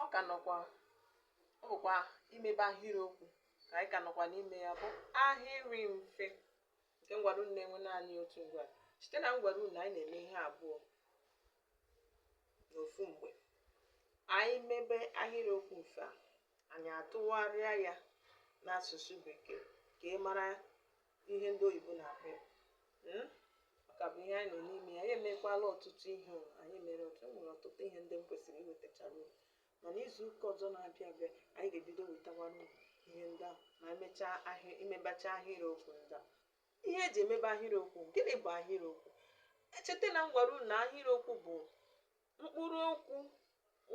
ọ ka nọkwa ọ bụkwa imebe ahịrịokwu ka anyị ka nọkwa n'ime ya bụ ahịrị mfe nke m gwara unu na-enwe naanị otu ngwaa cheta na m gwara unu anyị na-eme ihe abụọ n'ofu mgbe anyị mebe ahịrịokwu mfe a anyị atụgharịa ya n'asụsụ bekee ka ị mara ihe ndị oyibo na-akpọ ya Hmm? ọ ka bụ ihe anyị nọ n'ime ya anyị emekwala ọtụtụ ihe o. anyị mere ọtụtụ e nwere ọtụtụ ihe ndị m kwesịrị iwetachara unu mana izu ụka ọzọ na-abịa abịa anyị ga-ebido wetakwara unu ihe ndị ahụ ma e mechaa ihe a imebecha ahịrịokwu ndị a ihe e ji emebe ahịrịokwu gịnị bụ ahịrịokwu echeta na m gwara unu na ahịrịokwu bụ mkpụrụ okwu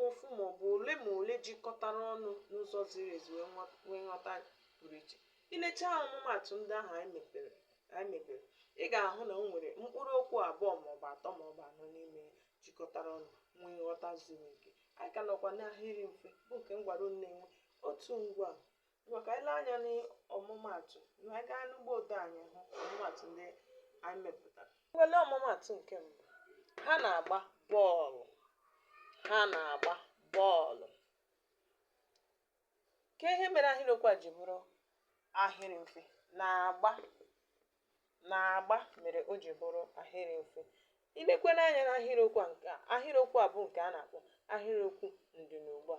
ofu maọbụ ole ma ole jikọtara ọnụ n'ụzọ ziri ezi wee nwa- nwee nghọta pụrụ iche i lechaa ọmụmaatụ ndị ahụ anyị mepere anyị mebere ị ga-ahụ na o nwere mkpụrụ okwu abụọ maọbụ atọ maọbụ anọ n'ime ya jikọtara ọnụ nwee nghọta zuru oke anyị ka nọkwa n'ahịrị mfe bụ nke m gwara unu na-enwe otu ngwaa Ngwa ka anyị lee anya n'ọmụmaatụ ka anyị gaa n'ụgbọ odee anyị hụ ọmụmaatụ ndị anyị mepụtara. Ngwa lee ọmụmaatụ nke mbụ. Ha na-agba bọọlụ. Ha na-agba bọọlụ. Kee ihe mere ahịrịokwu a ji bụrụ ahịrị mfe. Na-agba na-agba mere o ji bụrụ ahịrị mfe. I lekwanụ anya n'ahịrịokwu a nke a, ahịrịokwu a bụ nke a na-akpọ ahịrịokwu ndịnugbua.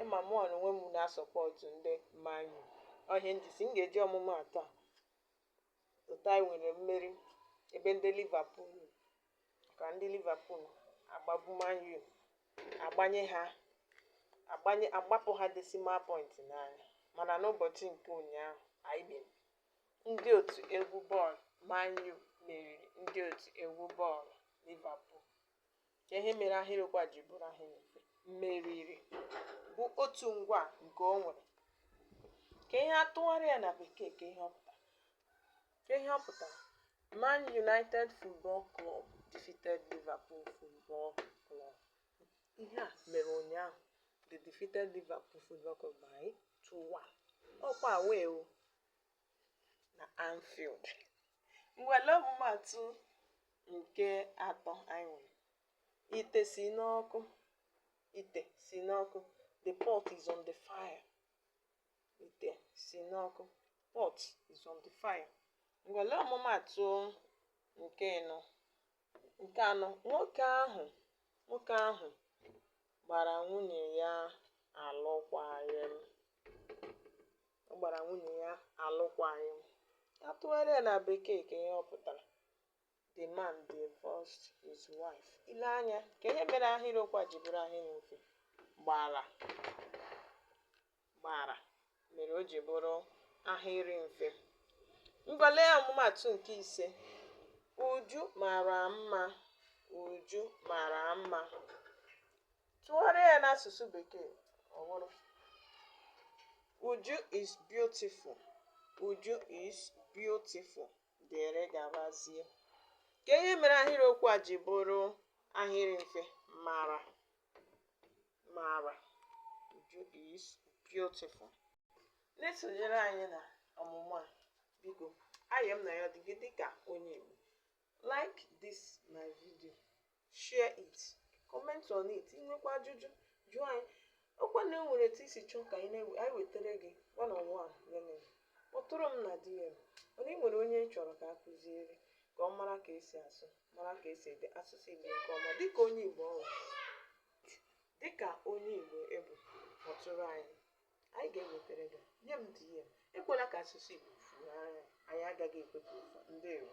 ị ma mụ n'onwe m na-asọpọtụ ndị Man U ọ ihe m ji sị m ga-eji ọmụmaatụ a otu anyị nwere mmeri ebe ndị Liverpool nọ. ka ndị Liverpool agbagbu Man U agbanye ha agbanye agbapụ ha decimal point n'anya mana n'ụbọchị nke ụnyaahụ anyị bịara ndị otu egwu bọọlụ Man U meriri ndị otu egwu bọọlụ Liverpool kee ihe mere ahịrịokwu a ji bụrụ ahịrị mfe meriri bụ otu ngwaa nke o nwere kee ihe a tụgharịa ya na bekee kee ihe ọ pụtara kee ihe ọ pụtara Man United Football Club defeated Liverpool Football Club ihe a mere ụnyaahụ they defeated Liverpool Football Club by 2-1 ọkwa wee o mfe ngwa lee ọmụmatụ nke atọ anyị nwere ite si n'ọkụ ite si n'ọkụ the pot is on the fire ite si n'ọkụ pot is on the fire ngwa lee ọmụmatụ nke ịnọ Nke anọ, nwoke ahụ nwoke ahụ gbara nwunye ya alụkwaghịm. Ọ gbara nwunye ya alụkwaghịm. A tụgharịa ya na Bekee kee ihe ọ pụtara. The man divorced his wife. I lee anya kee ihe mere ahịrịokwu a ji bụrụ ahịrị mfe gbara. gbara mere o ji bụrụ ahịrị mfe ngwa lee ọmụmatụ nke ise uju mara mma uju mara mma tụgharịa ya n'asụsụ bekee ọ bụrụ uju is beautiful uju is beautiful dịrị gabazie kee ihe mere ahịrịokwu a ji bụrụ ahịrị mfe mara mara uju is beautiful na-esonyere anyị na ọmụmụ a biko ihe m na-ayọ gị dịka onye Igbo like this my video share it comment on it i nwekwaa ajụjụ jụọ anyị ọkwa na e nwere etu i si chọọ ka anyị wetara gị one on one learning kpọtụrụ m na DM mana ị nwere onye ị chọrọ ka a kụziere ka ọ mara ka e si asụ mara ka e si ede asụsụ Igbo nke ọma dịka onye Igbo ọ bụ. Dịka onye Igbo ị bụ, kpọtụrụ anyị. Anyị ga-ewetara gị. Nye m DM. Ekwela ka asụsụ Igbo fuo anya. Anyị agaghị ekwe ka o fuo. Ndewo.